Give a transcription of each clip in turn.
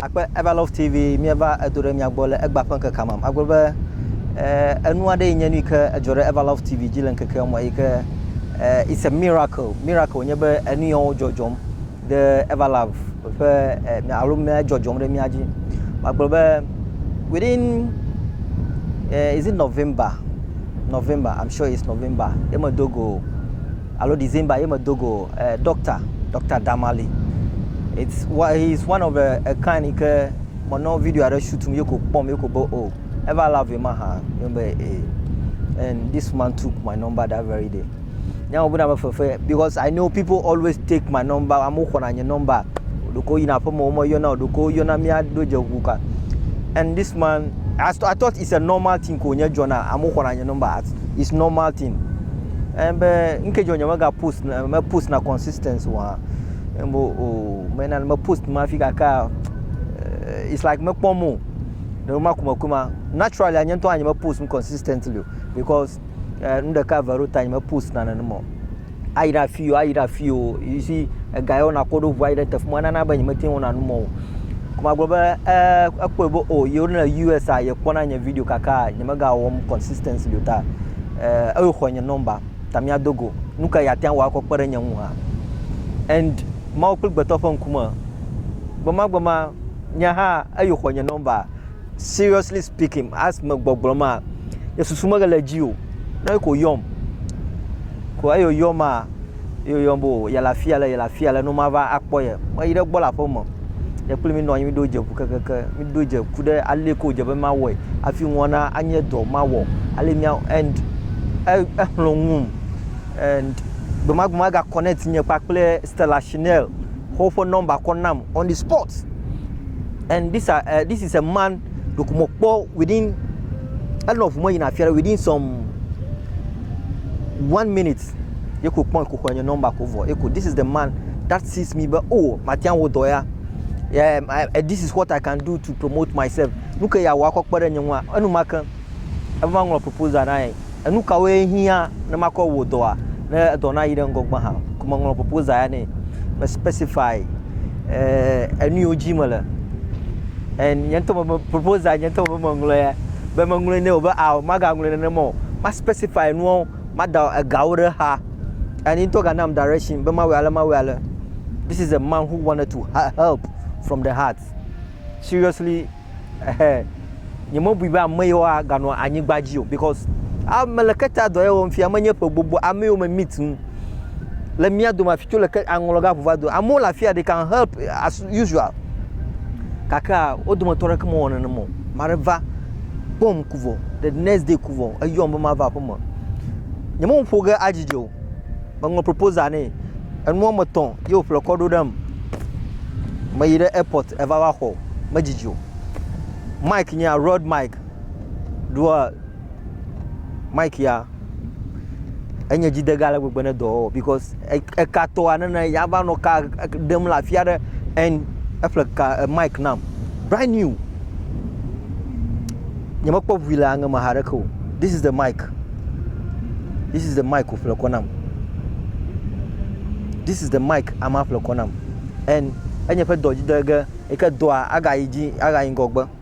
akpe Ever Love TV míeva edo ɖe mia gbɔ le egba ƒe ŋkekea me. Agblɔ be eh, enu aɖe yi nye nu yi ke edzɔ ɖe Ever Love TV dzi le ŋkekea me yi ke eh, it's a miracle. Miracle nye be enu yawo dzɔdzɔm ɖe Ever Love ƒe eh, mia- alo mia dzɔdzɔm ɖe mia dzi. Magblɔ be within eh, is it November? November, I'm sure it's November. Ye medo go alo December ye medo go eh, doctor, Dr. Damali. It's what he is one of the a kind yi ke menɔ video aɖe shoot mi ye ko kpɔm ye ko be oh, ever love ye ma hã ye be eh. And this man took my number that very day. Nya wo bena me fefe because I know people always take my number, amewo xɔna nye number. Ɖeko yina aƒeme wo meyɔna o, ɖeko yɔna mía ɖo dze ŋu ka. And this man, I, st- I thought it's a normal thing ko nye dzɔna, amewo xɔna nye number, as- it's normal thing. Eye be ŋke dzɔ nyeme ga post na me post na consistent wa. Ŋbo o oh, me na me post ma fi kaka eh, it's like me kpɔ mo. Ɖe ma kuma kuma naturally anye ntɔ anye me post consistently because eh, nu ɖeka vero ta nye me post na nene mo. Ayi ɖe afi o, ayi ɖe afi o. You see ega yɔ na koɖo ʋu ayi ɖe tefu ma nana be nye me tin wɔna nu mo. Kuma gblɔ be eh ekpɔ be o oh, yewo le US a ye kpɔ na nye video kaka nye me ga wɔm consistently ta. eh, eyo xɔ nye nɔmba, ta míado go. Nuka yeate ŋu akɔ kpe ɖe nye ŋu hã? And Mawu kple gbetɔ ƒe ŋkume, gbemagbema nye hã eyo xɔ nye nɔmba. Seriously speaking, as me gbɔgblɔ ma, nye susu mele edzi o. Ne ko yɔm, ko eyo yɔm a, ye woyɔm be o yele afi ale, yele afi ale ne womava akpɔ ye. Meyi ɖe egbɔ le aƒeme. Ye kple mi nɔ anyi mi ɖo dze ƒu kekeke, mi ɖo dze ku ɖe ale yi ke wodze be mawɔe hafi ŋua na anye dɔ mawɔ ale mía and e exlɔ̃ ŋum and gbe ma gbe ma ega connect nye kpakple Stella Shinel xɔ woƒe number kɔ nam on the spot and this are uh, this is a man ɖeko mekpɔ within enɔ ŋu me yina afi aɖe within some one minute. Ye ko kpɔn ko xɔe nye nɔmba ko vɔ. Ye ko this is the man that sees me be oh matia wo dɔ ya. Yeah, I, eh, this is what I can do to promote myself. Nu ke ya wa kɔ kpe ɖe nye ŋua. Enu ma ke eva ŋlɔ proposal na ye. Enu kawo ye hiã ne makɔ wo dɔa ne dɔ na yi ɖe ŋgɔgbe hã. Ko me ŋlɔ proposal ya ne. Me specify eh enu yo dzi me le. And nye ŋutɔ me proposal nye ŋutɔ me ŋlɔ ya. Be me ŋlɔ ne o be ah maga ŋlɔ ne ne mo. Ma specify nuwo Mada egawo ɖe xa. And he ŋutɔ ga nam direction be mawɔe ale mawɔe ale. This is a man who wanted to help from the heart. Seriously ehe nye me bui be ame yewoa ga nɔ anyigba dzi o because a me le keta dɔ ye wɔm fia me nye ƒe gbogbo ame yewo me meet nu le mía dome afi tso le ke aŋlɔ ga ʋu va do. Amewo le afia they can help as usual gakea wo dometɔ aɖeke mewɔ nenem o. Ame aɖe va kpɔm ku vɔ the next day ku vɔ eyɔm be mava aƒeme. Nyemeŋ ƒo ge adzidzi o. Meŋlɔ proposal nɛ. Enu wɔme etɔ̃ ye wòƒle kɔ ɖo ɖem. Meyi ɖe airport eva va xɔ. Medzidzi o. Mike nyea Road Mike. ɖoa mic ya enye dzidega ale gbegbe ne dɔwɔwɔ because ekatɔa nene yava nɔ ka ɖem le afi aɖe and eƒle ka e, mic nam brand new nyemekpɔ ʋui le aŋe me haɖeke o this is the mic this is the mic wòƒle kɔ nam this is the mic ama ƒle kɔ nam and enye ƒe dɔ dzidege yi ke dɔa agayi dzi agayi ŋgɔgbe.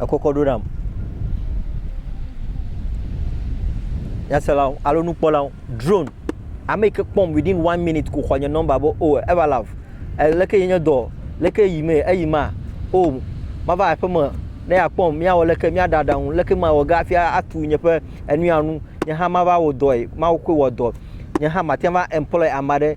ekɔkɔ ɖo nam. Nyaselawo alo nukpɔlawo, drone, ame yi ke kpɔm within one minute ko xɔ nye nɔmba be o eva love, leke ye nye dɔ, leke yi mee, eyi ma, o mava aƒe me ne yeakpɔm, míawɔ leke, míaɖe aɖaŋu, leke mawɔ ge hafi atu nye ƒe enu ya nu, nye hã mava wɔ dɔe, Mawu koe wɔ dɔ, nye hã mate ŋu va employer ame aɖe.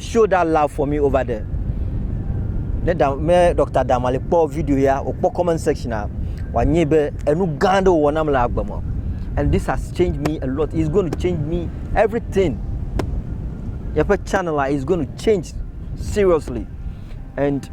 Show that love for me over there. Ne da, me Dr. Damali kpɔ video ya, wòkpɔ comment section a, wòanye be enu gã aɖe wòwɔ nam le agbe me. And this has changed me a lot. It's going to change me everything. Yeƒe channel is going to change seriously. And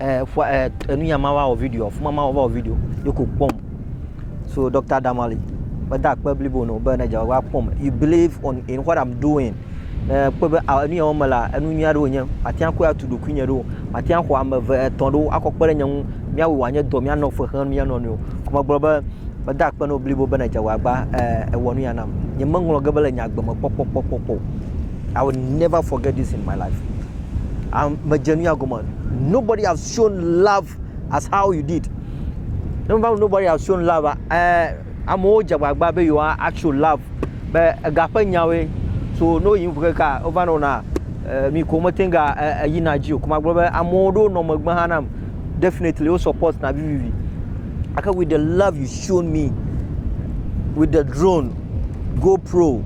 eh, fua, eh, enunya ma va wɔ video, fuma ma va wɔ video, ye ko kpɔm. So Dr. Damali, meda akpe blibo no be ne dze va kpɔm. You believe on in what I'm doing. Ne kpɔ be ah, enunya wɔm la, enu nyui aɖewo nye, mate ŋu atu ɖokui nye ɖo, mate ŋu xɔ ame eve etɔ̃ ɖo akɔ kpe ɖe nye ŋu, míawo wòanye dɔ, míanɔ fe xlẽ mía nɔnɔewo. Ko megblɔ be meda akpe no blibo be ne dze va gba eh, ewɔ nuya nam. Nyemeŋlɔ ge be le nye agbe me kpɔkpɔkpɔkpɔ. I will never forget this in my life. Am, medze nuya gɔme. Nobody has shown love as how you did. Ne meva nobody has shown love, eh, amewo dze agbagba be yewoa atsho love be ega ƒe nyawoe. So ne woyi ŋu keka wova nɔ na eh, mi ko meteŋ ga eh, eh, yina dzi o. Ko magblɔ be amewo ɖewo nɔ megbe hã nam. Definitely wo support na vivivi. Ake with the love you shown me with the drone, GoPro,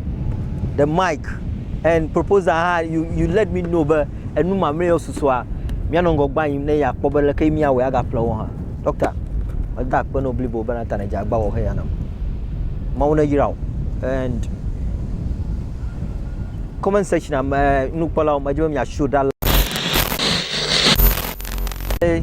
the mic. and proposal hã you you let me know be enu mamleawo susua míanɔ ŋgɔgbe anyi ne yeakpɔ be leke míawɔe agaƒle wo hã. Ɖɔkta, meda akpe na wò blibo bena ta nèdze agbagba wɔ heya nam. Mawu neyra wò and comment section me nukpɔlawo medi be miashow ɖa. Eh,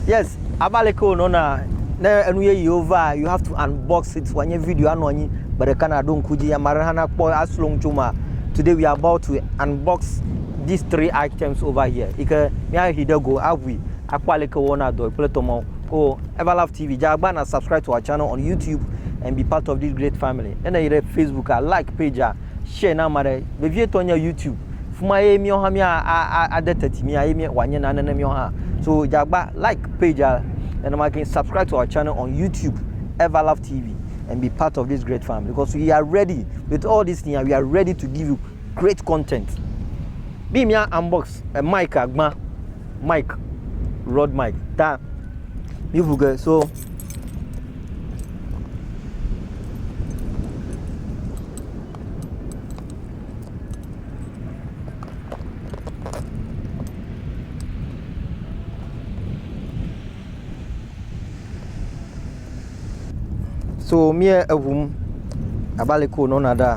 yes, ava le ke wònɔna ne enu yeyewo va you have to unbox it wòanye video anɔ anyi gbe ɖeka na ɖo ŋku dzi ame aɖe hã nakpɔ asrɔ ŋu tso ma today we are about to unbox these three items over here yi ke míahi ɖe go aʋui akpɔ aleke wɔna dɔ kple tɔmɔ oh everlove tv dza agba na subscribe to our channel on youtube and be part of this great family ene yi ɖe facebook a like page a share na ame aɖe. Vevietɔ nye YouTube. Fima ye míawo hã mía a, a, ade teti mía ye mía wòanye nane ne míawo hã. So dze agba like pagea nenema ke subscribe to our channel on YouTube Everlove TV and be part of this great family because we are ready with all these things we are ready to give you great content. Bí mía unbox eh, mic agbã mic rod mic ta míʋu ge so. So mía eŋum abe ale ko nɔna ɖa.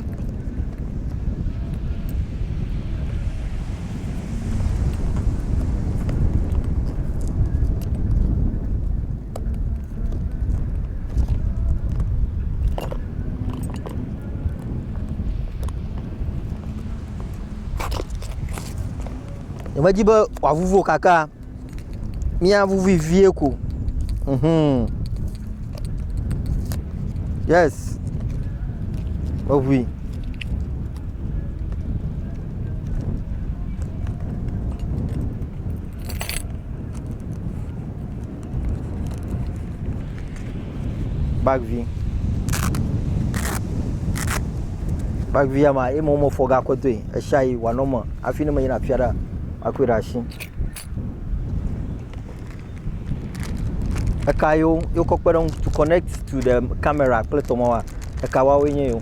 Nyemedi be wòavuvu wò kaka, míavuvui vie ko. Mhm. Yes. Meʋui. bag vi bag vi ya ma ye ma womefɔ ga kɔ doe eshayi wòanɔ me hafi ne meyina afi aɖea makɔe ɖe asi. Eka yewo wokɔ kpe ɖe eŋu to connect to the camera kple tɔmɔ wa eka woawoe nye yewo.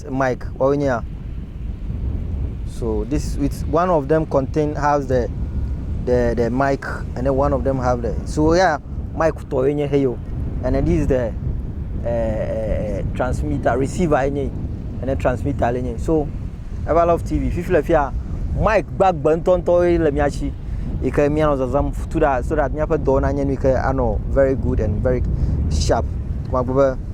Mike, woawoe nye ya. So this with one of them contain has the the the mic and then one of them have the so yeah mic tɔ ye nye heyo and then this is the uh, uh, transmitter receiver ye nye and then transmitter le nye so ever love tv fifi le fia mic gbagbe ŋutɔŋutɔ ye le mia si yi ke mianɔ zazam tu da so that miaƒe dɔ nanye nu yi ke anɔ very good and very sharp kuma gbe be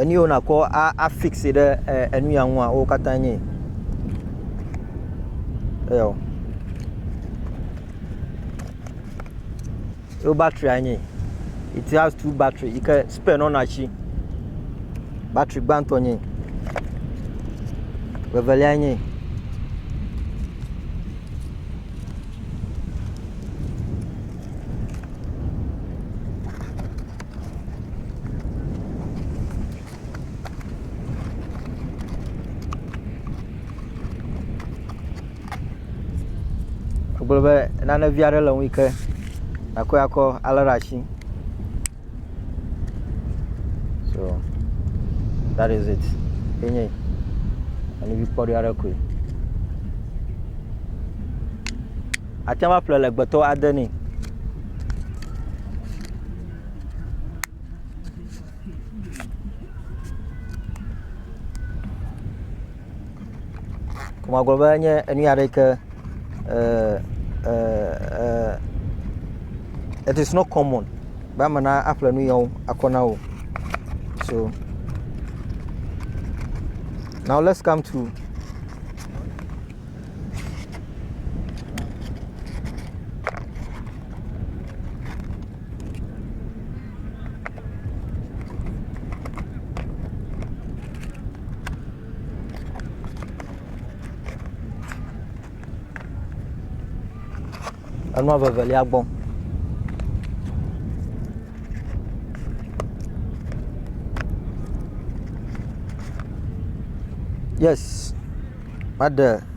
Enu yiwo nakɔ afixe ɖe enu ya ŋua wo katã nye eyɔ. Ye wo battery nye it has two battery yi ke spare nɔna edzi. Battery gbãtɔ nye. Vevelia nye. Egblɔ be nane vi aɖe le ŋui ke akɔ akɔ alé ɖe asi. So dat iz it enye yi. Alebe kpɔɖi aɖe koe. Ate ŋu aƒle le gbetɔ ade ni. Kuma gblɔ be enye enu ya ɖe ke uh, uh, uh, it is not common be ame na aƒle nu yawo akɔ na wo. So now let's come to Enua vevelia gbɔ. Yes, maɖe.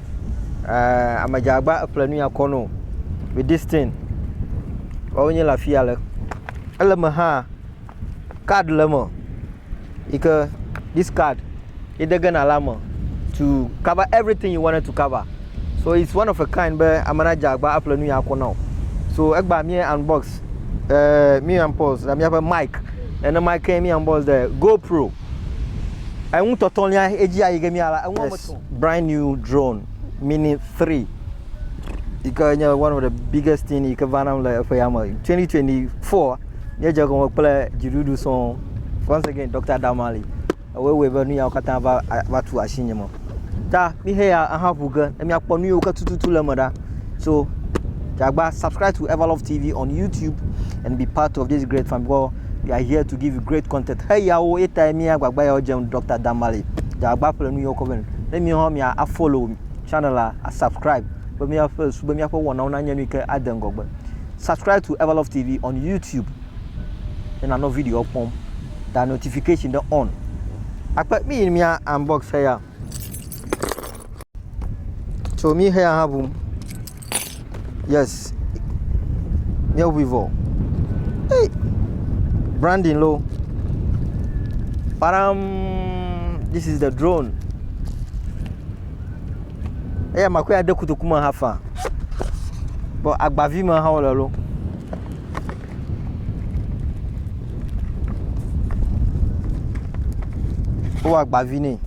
eh, ame dza agba eƒle nu ya kɔ no with this thing. Woawo nye le afi ya le. Ele me hã, card le me yi ke this card ye de gena la me to cover everything you wanted to cover. So it's one of a kind be ame na dza agba eƒle nu ya kɔ na o. So egba mi unbox eh, mi unbox na miaƒe mic. Ene mic mi unbox de GoPro. Enu tɔtɔlia edzi ayi ge mia la, enu wɔme Yes. etɔ̃. Brand new drone mini three yi ke nye one of the biggest thing yi ke va nam le eƒe ya me. Twenty twenty four nye dze gɔme kple dziɖuɖu sɔŋ. Once again Dr. Damali ewoe wɔe be nu yawo katã va va tu asinye me. Ta mixe ya ahaŋu ge ne miakpɔ nu yiwo ke tututu le eme ɖa. So Jagba, subscribe to Everlove TV on YouTube and be part of this great family because we are here to give you great content. Hey, yawo eta mi agbagba yawo jem Dr. Damale. Jagba ƒle nu yawo kɔven. Ne mi hã mia a follow channel la, a subscribe be mia ƒe su be mia ƒe wɔnawo na nye nu ke ade ŋgɔgbe. Subscribe to Everlove TV on YouTube. Ne na no video kpɔm. Da notification de on. Akpe mi mia unbox ya. So mí xe aha ŋum. Yes. Mía ŋui vɔ. Hey. Branding lo. Param. This is the drone. Eya makɔ ya de kotoku me hafa. Bɔ agbavi me hã wole lo. Wowɔ agbavi nɛ.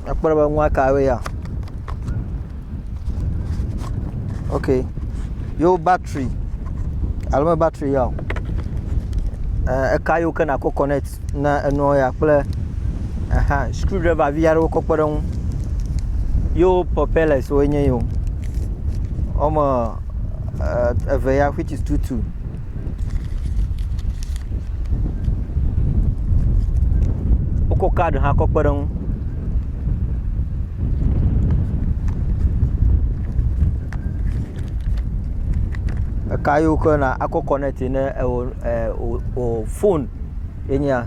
Ekpɔ ɖe be nua ka woe ya. Ok. Yewo batri alo me batri ya o. Eh, eka yiwo ke nakɔ connect na enua ya kple aha screw driver vi aɖewo kɔ kpe ɖe eŋu. Yewo propellers woe nye yewo. Wɔme eh, eve ya which is two two. Wokɔ card hã kɔ kpe ɖe ŋu. Eka yi wokɔ na akɔ connect ne ewɔ e o o foni ye nya.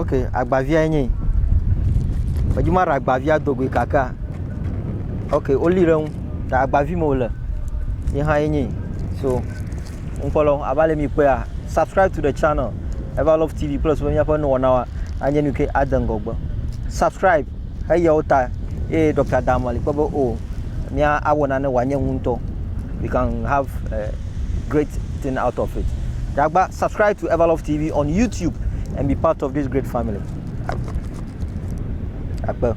ok agbaviae nye yi medzi maɖe agbavia do goe kakea ok woli ɖe eŋu ta agbavi me wòle ye hã ye nye yi so ŋkpɔlɔ abe ale mi kpɔea subscribe to the channel ever love tv kple susu be míaƒe nuwɔnawoa anye nu ke ade ŋgɔgbe subscribe. Heya wo ta ye Dɔkta Adam Ali kpɔ be o mía awɔ nane wòanye ŋu ŋutɔ. We can have a great thing out of it. Ɖagba subscribe to Everlove TV on YouTube and be part of this great family. Akpe.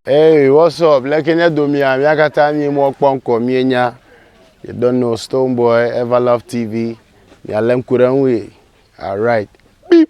Hey, what's up? Leke nye domia, mia katã mi mɔ kpɔ ŋkɔ mie nya. You don't know Stone Boy, Everlove TV. Mia le ŋku ɖe ŋui. Alright. Beep.